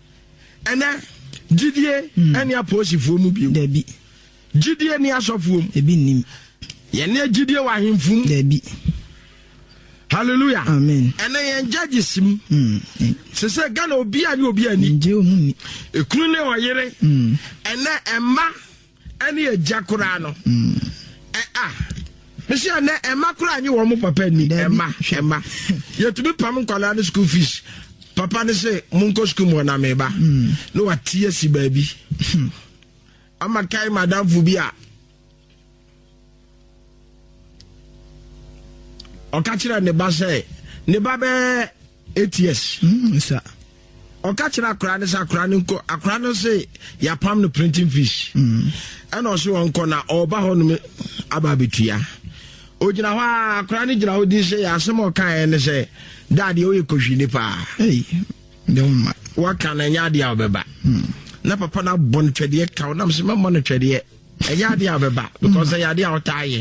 S2: ɛnɛ
S1: gyidie hmm. ɛne apolisifoɔ mu bio dabi
S2: gyidie ne
S1: asɔfoɔ mu ebi nnim
S2: yɛne gyidie
S1: wɔ ahemfo mu dabi hallelujah amen ɛnɛ
S2: yɛn judges
S1: mu hmm. sɛ sɛ ghana obi a ne obi ani
S2: ekunu ne
S1: ɔyere hmm. ɛnɛ ɛma. ɛne agya koraa no ɛ a mesi ɛnɛ ɛma koraa nye wɔn papa ni ɛma ɛma yɛtumi pam nkwadaa no school fees papa no sɛ monkɔ school mu ɔnam ɛba hmm. na wate asi baabi hmm. ama kae madamfo bi a ɔka kyerɛ ne ba sɛ ne ba bɛɛ eight years hmm,
S2: ɔka
S1: kyerɛ akora no sɛ akora no nkɔ akora no sɛ yɛapam no printing fees hmm. ɛna ɔse ɔnkɔ na ɔba hɔ nom aba abɛtua ogyina hɔ a akora no gyina hɔ din sɛ yɛasɛm ɔkaeɛ ne sɛ daadeɛ woyɛ kɔhwi ne paa
S2: waka na ɛnyɛ adeɛ a
S1: wobɛba hmm. na papa no abɔ no twɛdeɛ ka wo nam sɛ mɛmmɔ no twɛdeɛ ɛyɛ adeɛ a bɛba because ɛyɛ adeɛ a ɔtaa yɛ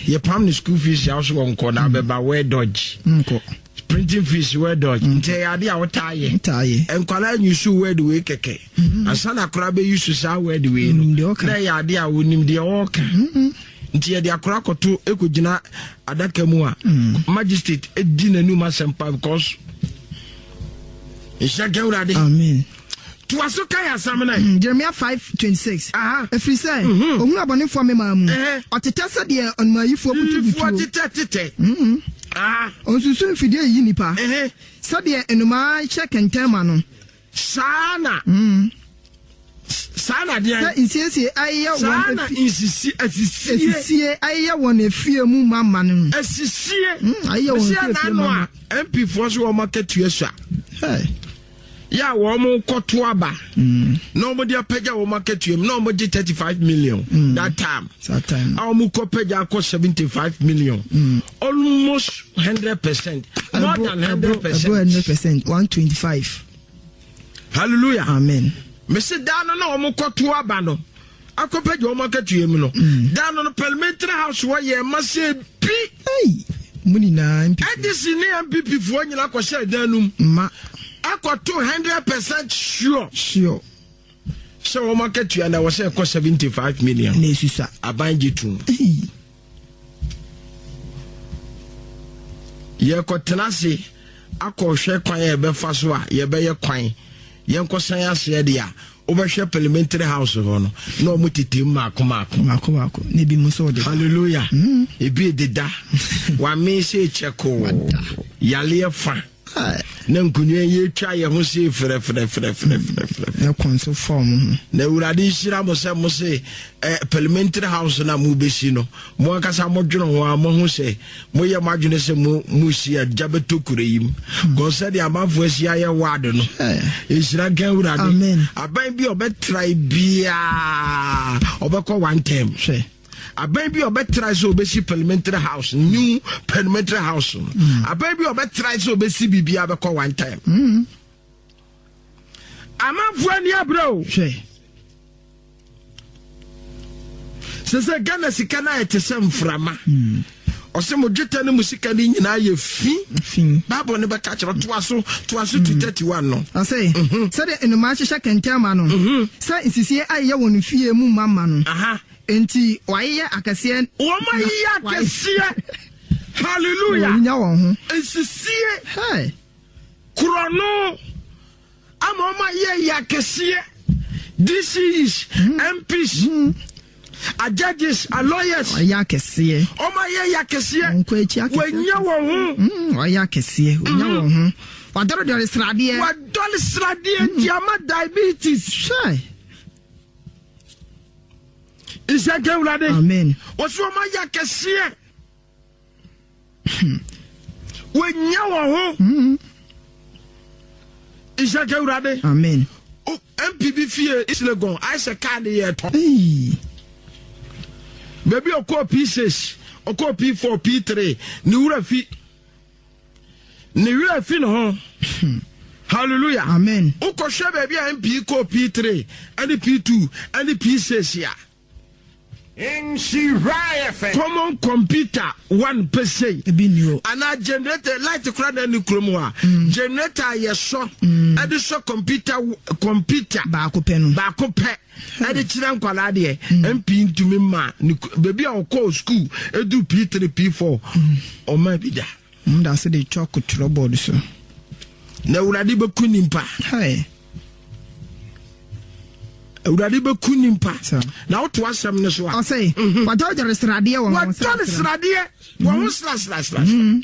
S1: yɛpam ne school fees yɛ so wɔ nkɔ na bɛba wɛ dodge
S2: printing fees
S1: wɛ dodge nti ɛyɛ adeɛ a ɔtaa yɛ nkwadaa nyi so word wei kɛkɛ ansa na akora bɛyi so saa word wei no na ɛyɛ adeɛ a wɔnim deɛ ɔɔka nti yɛde akora kɔto ɛkɔgyina adaka mu a magistrate di n'anum asɛmpa because nhyɛ nkɛ wurade
S2: toa so
S1: kae asɛm no ɛ. Jeremia five twenty
S2: six. Ɛfiri sɛ ɔhunu abɔnefoɔ memaa mu, ɔtetɛ sɛdeɛ ɔnumaayifoɔ butu butuo. Nnifoɔ tetɛ tetɛ. Ɔnsusu mfidie yiyi nnipa, sɛdeɛ nnomaa hyɛ kɛntɛn ma no. Saa na.
S1: Saa na deɛ. Sɛ nsiesie ayeyɛ
S2: wɔn. Saa na nsisi
S1: asisie. Asisie ayeyɛ wɔn
S2: efie mu ma ma no. Asisie.
S1: Ayeyɛ wɔn efie
S2: efie ma ma. Ɛsi ɛna ano a MPfoɔ so wɔn
S1: akatua sua. yɛ a wɔkɔto aba mm. na wɔde apagya wɔn akatua mu na wɔgye thirty five million mm. that time a wɔkɔ pagya akɔ seventy five million mm. almost hundred percent more than hundred percent hundred percent one twenty
S2: five
S1: hallelujah amen
S2: mesi daa no
S1: na wɔkɔto aba no. akɔpɛgye wɔn akatua mu no da no no parliamentary house hɔ yɛ ma sɛ bi mu
S2: nyinaa ndc ne mpp
S1: foɔ nyinaa kɔhyɛ dan no mu ma
S2: akɔto
S1: hundred percent sure sure sɛ wɔn akatua na wɔsɛ ɛkɔ seventy five million na esusa aban
S2: gye tum.
S1: yɛkɔtena ase akɔhwɛ kwan a yɛbɛfa so a yɛbɛyɛ kwan yɛnkɔsan aseɛ deɛ a wobɛhwɛ parliamentary house hɔ no na ɔmo tete mu maako maako maako maako na
S2: ebi mu nso ɔde hallelujah mm.
S1: ebi deda wame sɛ kyɛkoo yaleɛ fa na nkonua yi atwa yɛ ho se frɛfrɛfrɛfrɛfrɛ
S2: na kɔn so fɔm ho na awurade nhyira
S1: mo sɛ mo se eh, parliamentary house na mobɛsi no mo ankasa modwene ho a moho sɛ moyɛ mo adwene sɛ mo mosi agya bɛtɔ kura yi m kɔn sɛdeɛ amanfoɔ asi ayɛ ward no ɛhyira nka awurade aban bi ɔbɛtrae biaa ɔbɛkɔ one term hwɛ aban bi a ɔbɛtrae sɛ ɔbɛsi parliamentary house new parliamentary house no mm. aban bi a ɔbɛtrae sɛ ɔbɛsi biribiaa bɛkɔ one time mm. amanfoɔ ani aberɛ o sɛ sɛ ghana sika no ayɛ te sɛ mframa mm. ɔsɛ mo dwetɛ no mu sika no nyinaa yɛ fi bible no bɛka kyerɛ toa so toa so 231 mm. no ɔsɛ mhm. sɛdeɛ
S2: nnomaa hyehyɛ kɛntɛn ma no mhm. sɛ nsisie ayeyɛ wɔ no fie mu ma ma no Enti wɔayeyɛ akɛseɛ. Wɔayeyɛ
S1: akɛseɛ. Hallelujah. Wɔanya wɔn ho.
S2: Nsisie. Hey.
S1: Korɔno. Ama wɔayɛ yɛ akɛseɛ. DCs, mm. MPs. Mm. A judges, a lawyers. Wɔayɛ akɛseɛ.
S2: Wɔayɛ yɛ
S1: akɛseɛ. Wɔn kɔ akyi akɛseɛ. Wɔanya
S2: wɔn ho. Mm, wɔayɛ akɛseɛ. Wɔanya mm. wɔn ho. Wɔadɔredɔre sradeɛ. Wɔadɔre sradeɛ
S1: nti ama diabetes. Sure. nhyɛ nka awurade ɔsɛ ɔma
S2: yɛ
S1: akɛseɛ hmm. wɔnya wɔ ho hmm. nhyɛ nka awurade
S2: mpb
S1: fie islegon ayɛ sɛ kaa ne yɛ tɔ baabi ɔkɔɔ p6 ɔkɔɔ p4 p3 ne wura fi ne werɛ afi ne ho hallelujah amen
S2: wokɔhwɛ baabi a
S1: mp kɔ p3 ɛne p2 ɛne p6 a common computer one pɛ sei anaa
S2: generator
S1: light kora na ne kurom hɔ a mm. generator a yɛsɔ mm. ɛde sɔ computer computer
S2: baako pɛ no baako pɛ ɛde
S1: kyerɛ nkwadaa deɛ mp ntumi ma ne beebi a ɔkɔɔ sukuu edu p three p four ɔma bi da. wɔn da ase de chalk
S2: twerɛ board so. na
S1: awurade bɛku nipa. awurade bɛku nipa na woto asɛm no so a ɔsɛ mhm. wadɔredɔre
S2: sradeɛ wɔ ho sradeɛ wɔ ho srasrasrasra
S1: mhm.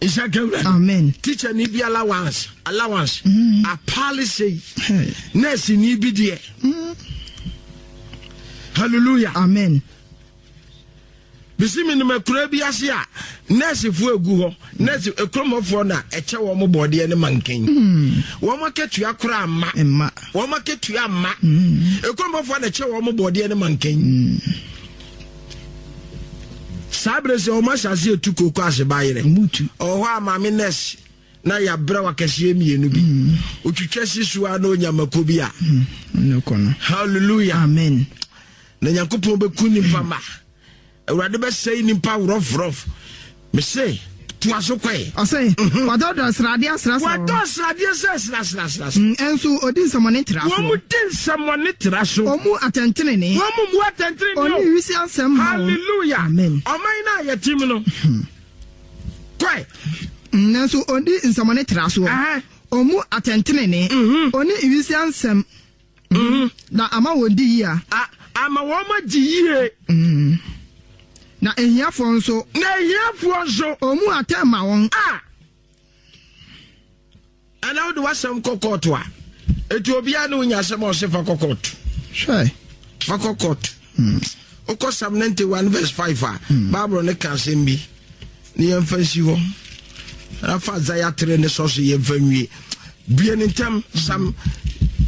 S2: Isa
S1: Gawura. Amen. Teacher ni
S2: bi
S1: allowance allowance. Mm. A policy. Hey. Nurse ni bi deɛ. Mm. Hallelujah. Amen.
S2: Bisi
S1: mi nima kura bi ase a nurse fo egu hɔ nurse ekromɔfoɔ na ɛkyɛ wɔn bɔdeɛ ne mankan. Mm. Wɔn akatua kora ama. Mma. Wɔn akatua ama. Mm. Ekromɔfoɔ na ɛkyɛ wɔn bɔdeɛ ne mankan. Mm. saa bere sɛ wɔn asase etu kooko ase ba yerɛ ɔwɔ hɔ a
S2: maame
S1: nurse na yɛ abiraw akɛseɛ mmienu bi mm. otwitwa si so a na onya mako bi a mm, hallelujah amen
S2: na nyankopɔn
S1: bɛku nipa ma awurade bɛsɛe nipa worɔforɔf Me se, toa so kɔ e. Ɔse,
S2: Wadɔɔdɔɔ sradeɛ asra so. Wadɔɔ sradeɛ sɛ sra sra sra so. Mm, ɛnso ɔdi nsɛmɔne tra so. Wɔn di nsɛmɔne
S1: tra so. Ɔmu atɛntenenee.
S2: Wɔn mu atɛntenenee
S1: o. Ɔne wisi asɛm ma
S2: wɔn. Hallelujah. Amen.
S1: Ɔman no
S2: a yɛte mu
S1: no. Kɔ e. Mm,
S2: nanso ɔdi nsɛmɔne tra so. Ɔmu atɛntenenee. Ɔne wisi asɛm. Na ama wɔadi yie a. A, ama wɔadi
S1: yie.
S2: Na ahiafoɔ nso. Na ahiafoɔ nso. Ɔmmu atɛn mma wɔn. A,
S1: ɛnna wode w'asɛm kɔ kɔɔto a, eti obiara ne wo nya asɛm a ɔse fa kɔ kɔɔto. Hwɛ. Fa kɔ kɔɔto. Hmm. Wokɔ Psalm 91 verse 5 a, hmm. Bible no ka asɛm bi na yɛmfa nsi hɔ. Rafa Isaiah 3 ne sɔ so yɛmfa nwie. Bue ne ntam Psalm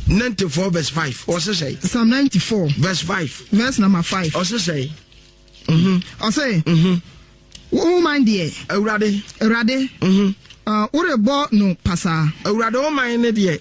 S1: 94 verse 5 ɔse sɛ. Psalm 94
S2: verse 5
S1: verse number 5
S2: ɔse sɛ.
S1: Mhm.
S2: Ɔse. Mhm. Wo man deɛ. Awurade. Awurade.
S1: Mhm. Uh,
S2: worebɔ no pasaa. Awurade wo man ne
S1: deɛ.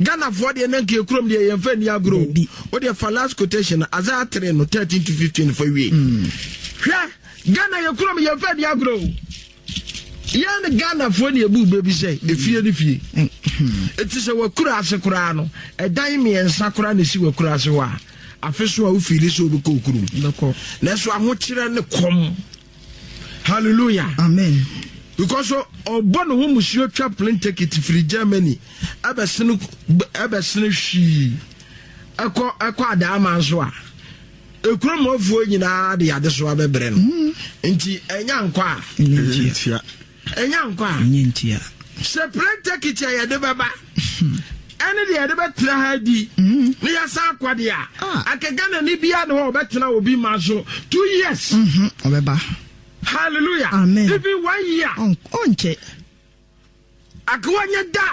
S2: Ghana foɔ deɛ na
S1: nka ekurom deɛ yɛn fa ni agorɔ o. Wo deɛ fa last quotation no Isaiah three no thirteen to fifteen fa wie. Hwɛ Ghana yɛ kurom yɛn fa ni agorɔ o. Yɛn Ghana foɔ ni ebu bebi sɛ efie ni fie. Eti sɛ wɔ kura ase koraa no ɛdan mmiɛnsa koraa na esi wɔ kura ase hɔ a afeso a wofiili sɛ obi kɔ okurom. Nanso
S2: ahokyerɛ
S1: ne kɔm Hallelujah. Amen.
S2: Because
S1: ɔbɔ ne ho musuo twa plane ticket firi Germany ɛbɛsene ɛbɛsene hwii ɛkɔ ɛkɔ adaama nso a ekuro mɔfoɔ nyinaa de adesoa bɛbrɛ no hmm. nti ɛnya nkɔ a ntia.
S2: Ɛnya nkwa
S1: a. Ɛnyɛ ntia.
S2: Sɛ prɛntɛ
S1: kiti a yɛde bɛba ɛne deɛ yɛde bɛtena ha adi ne yɛsan akɔ deɛ a, anka Ghanani biara ne hɔ a ɔbɛtena obi ma so two years. Ɔbɛba.
S2: Hallelujah.
S1: Amen. Even
S2: one year.
S1: Ɔnkyɛ.
S2: Akewa
S1: nyɛ da.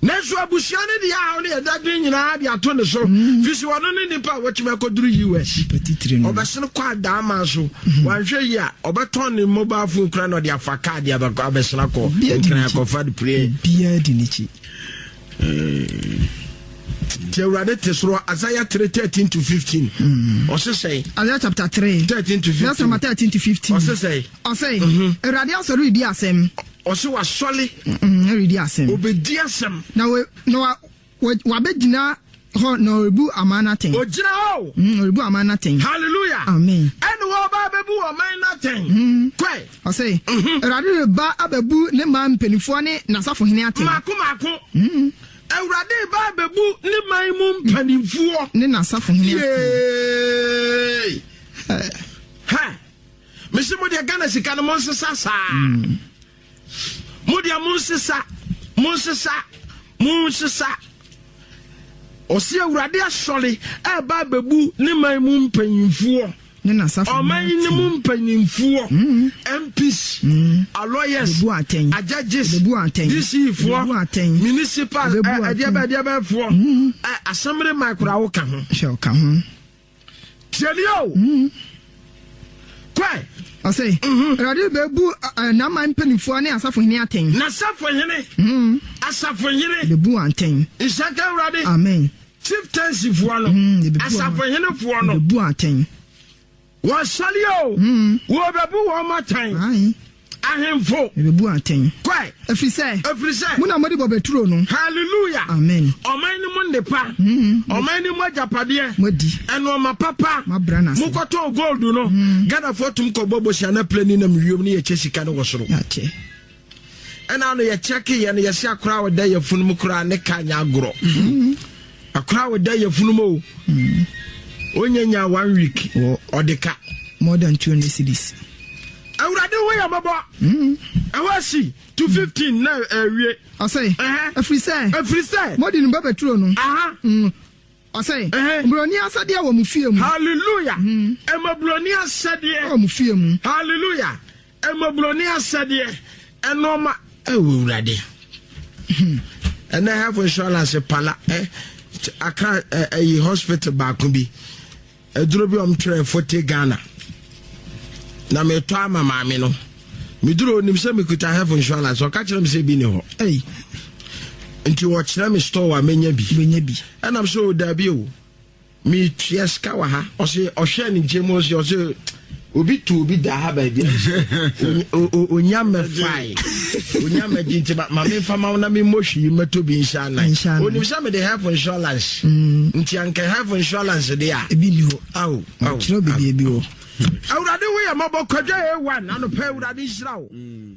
S1: Nanso abusua no de ahaw ne adagre nyinaa de ato ne so. Fi so ɔno ne nipa a watumi akɔduru US. Ɔbɛsen
S2: kɔ adaama
S1: so. Wanhwɛ yi a, ɔbɛtɔn ne mobile phone kura na ɔde afa kaa de abɛsen akɔ nkran akɔfa de pire. Biara di n'akyi. Ti Awurade te soro Isaiah 3 13 to 15. Ɔse sɛe. Isaiah chapter 3 13
S2: to 15. Verse number
S1: 13 to 15.
S2: Ɔse sɛe. Ɔse
S1: Awurade
S2: asɔre redi asɛm. Ɔse wasɔle.
S1: Mm, ɔredi asɛm.
S2: Obedi asɛm.
S1: Na we, na wa,
S2: wa, wabɛgyina hɔ na ɔrebu aman no atɛn. Ɔgyina hɔ o. Mm,
S1: ɔrebu aman no atɛn.
S2: Hallelujah. Amen.
S1: Ɛne
S2: wɔba abɛbu
S1: ɔman no atɛn. Mm. Kɔe. Ɔse, mm-hmm.
S2: Awurade mm-hmm. reba abɛbu ne man mpanimfoɔ ne n'asafohene atɛn. Mako mako. Mm.
S1: Awurade reba abɛbu ne man mu mpanimfoɔ. Ne n'asafohene
S2: atɛn. Yay. Uh. Ha.
S1: mese mo deɛ ghana sika no mo nsesa saa mo deɛ mo nsesa mo nsesa mo nsesa ɔsi awurade asɔre ɛba abɛbu ne man mu mpanyinfoɔ
S2: ɔman yi ne mu
S1: mpanyinfoɔ mps mm. mm. aloyers ajudges dcfoɔ municipal ɛdeɛbɛɛdeɛbɛɛfoɔ asɛmre ma koraa woka ho
S2: Tie me
S1: o. Kɔe. Ɔse, Awurade
S2: rebebu n'aman mpaninfoɔ ne asafohene atɛn. N'asafohene,
S1: asafohene. Rebebu wɔn atɛn.
S2: Nhyira nka Awurade.
S1: Amen.
S2: Chieftainsifoɔ
S1: no, asafohenefoɔ no. Rebebu wɔn atɛn. Wɔsɔre o. Wɔbebu wɔn atɛn. Ae.
S2: Ahemfo.
S1: Mebebu atɛn.
S2: Kɔe. Efiri sɛ.
S1: Efiri sɛ.
S2: Mo na mode
S1: bɔbɛ turo no.
S2: Hallelujah. Amen.
S1: Ɔman
S2: no mu nnepa.
S1: Ɔman no mu agyapadeɛ. Moadi. Nnoɔma
S2: papa.
S1: Moabra no ase. Mokɔtɔn
S2: gold no.
S1: Ghanafoɔ tum kɔbɔ bosea na plane nam wiem na yɛkyɛ sika no wɔ soro. Yɛakyɛ. Ɛna ano yɛkyɛkeeɛ no yɛse akora a ɔda yɛfunu mu koraa ne car nyɛ agorɔ. Akora wo dɛ yɛfunu mo o onye nya one week wɔ ɔde ka. more than two
S2: hundred cities. awurade
S1: ho yɛ mɔbɔ ɛhɔ asi to fifteen na awie. ɔsɛ
S2: ɛfiri sɛ ɛfiri sɛ mɔdi no bɛbɛturo no ɔsɛ buroni asɛdeɛ wɔ mo fie mu. hallelujah
S1: ɛma buroni asɛdeɛ wɔ mo fie mu.
S2: hallelujah
S1: Mmɔborɔni asɛdeɛ nnoɔma ɛwɔ awurade ɛnɛ health insurance pala eh, aka ɛyi eh, hospital baako bi aduro bi ɔm twerɛ fote ghana na metɔ ama maame no meduro onim sɛ mekuta health insurance ɔka kyerɛ me sɛ bi ne hɔ ɛyi nti wɔkyerɛ me store a menya bi ɛnam sɛ o daabi o me tua sika wɔ ha ɔse ɔhwɛ ne nkyɛn mu ɔse ɔse obi tu obi da ha baabi onya mɛfae onya mɛgye nti ma memfa ma wo na memmɔ hwii mɛtɔ bi nhyɛ anan onim sɛ mede health insurance mm. nti anka health insurance de a ebi ni hɔ ao
S2: kyerɛ
S1: bɛdeɛ bi hɔ awurade woyɛ
S2: mɔbɔ
S1: kwadwa a1
S2: anɔpɛ
S1: awurade nhyira
S2: wo mm.